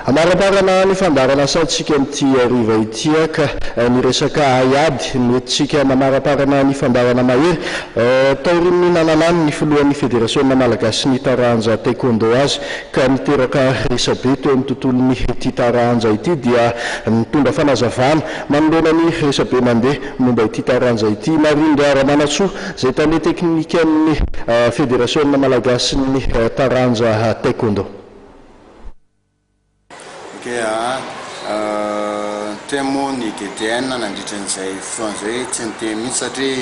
Amarimarina ny fandaharan'asantsika amin'ity hariva ity ka ny resaka haiady no entintsika manamarimarina ny fandaharana mahery taorian'ny nananany ny filohan'ny Federasiona malagasin'ny taranja Taekwondo azy ka niteraka resabe teo amin'ny tontolon'ny ity taranja ity dia nitondra fanazavana manoloana ny resabe mandeha momba ity taranja ity Marindra Ramanantsoa izay tale teknikan'ny Federasiona malagasin'ny taranja Taekwondo. Niteny moa ny DDN nandritra an'izay fotoana izay hoe tsy niteny mihitsy satria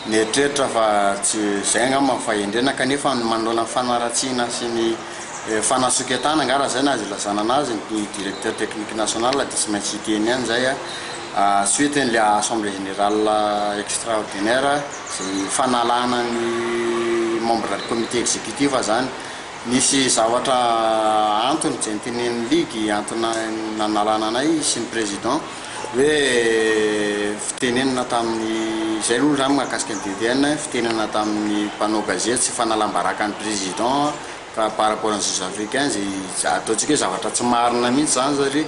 nieritreritra fa tsy izay angamba ny fahendrena kanefa ny manoloana ny fanaratsiana sy ny fanasoketana angaha raha izay no azo ilazana anazy ny Directeur Technique National dia tsy maintsy hiteny ihany izay suite an'ilay Assemblée Générale Extraordinaire izay fanalana ny Membre Comité Exécutif izany. Nisy zavatra antony izay nitenenin'ny ligue antony nanalana anay sy ny président hoe fitenenana tamin'ny izay aloha izany mahakasika ny DDN fitenenana tamin'ny mpanao gazety sy fanalam-baraka ny président par rapport ny juge africain izay ataontsika hoe zavatra tsy marina mihintsy izany satria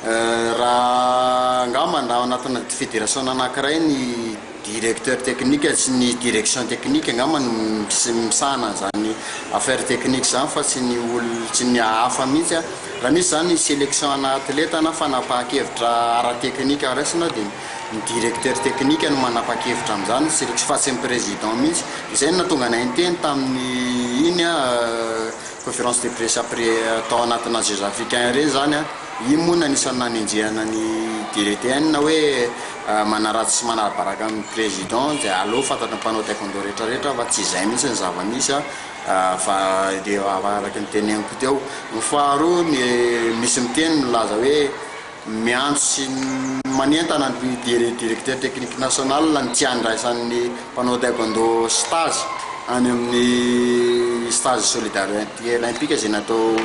Raha angamba na ao anatina federasiona anankiray ny directeur technique sy ny direction technique angamba no misahana an'izany affaire technique izany fa tsy ny olona, tsy ny hafa mihitsy an! Raha misy izany selection ana atleta na fanapahan-kevitra ara-technique haraisina dia ny directeur technique no manapa-kevitra amin'izany ny selection fa tsy ny président mihitsy! Izay no nahatonga anay niteny tamin'ny iny an! Conférence de presse après tao anatina Jeux Africains ireny izany an, iny moa no anisan'ny nanenjehana ny DRTN hoe manaratsy sy manarabaraka ny Président dia aleo fantatry ny mpanao Taekwondo rehetra rehetra fa tsy izay mihitsy ny zava-misy an, fa dia araka ny teneniko teo. Ny faharoa ny misy miteny milaza hoe. miantso sy manentana ny Directeur Technique National ny tsy handraisan'ny mpanao Taekwondo stage any amin'ny stage Solidarité Olympique izay natao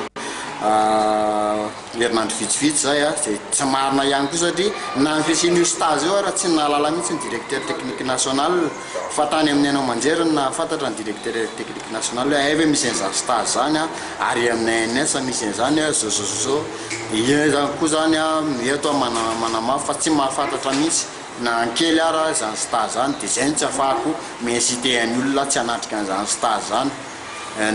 herinandro vitsivitsy izay, izay tsy marina ihany koa satria na ny fisian'io stage io ary tsy nahalala mihitsy ny Directeur Technique National. Fa tany amin'ny haino aman-jery no nahafantatra ny Directeur Technique National hoe hay ve misy an'izany stage izany an, ary amin'ny ANS misy an'izany an, zozozozo, iza izany koa izany an, eto aho manamafy fa tsy mahafantatra mihitsy na ny kely ara izany stage izany, dia izay no tsy afahako mi-inciter an'ny olona aho tsy hanatrika an'izany stage izany.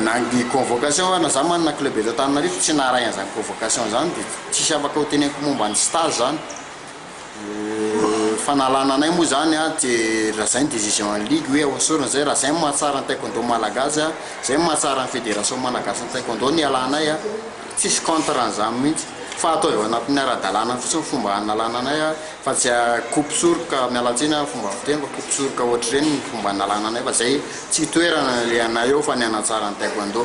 Na ny convocation ara, na izaho manana club eto Antananarivo tsy naharay an'izany convocation izany dia tsisy afaka hoteneniko momba ny stage izany. Fanalana anay moa zany dia raha zay ny decision ny ligue hoe ahosory zay raha zay no mahatsara ny taekwondo malagasy a, zay no mahatsara ny federation malagasy ny taekwondo no hialanay a, tsisy contre an'izany mihitsy fa atao eo anatin'ny ara-dalàna fotsiny ny fomba hanalana anay a, fa tsy akoby soroka, miala tsiny a fomba fiteny fa akoby soroka ohatr'ireny ny fomba hanalana anay fa zay tsy toerana ny anay eo fa ny hanatsara ny taekwondo.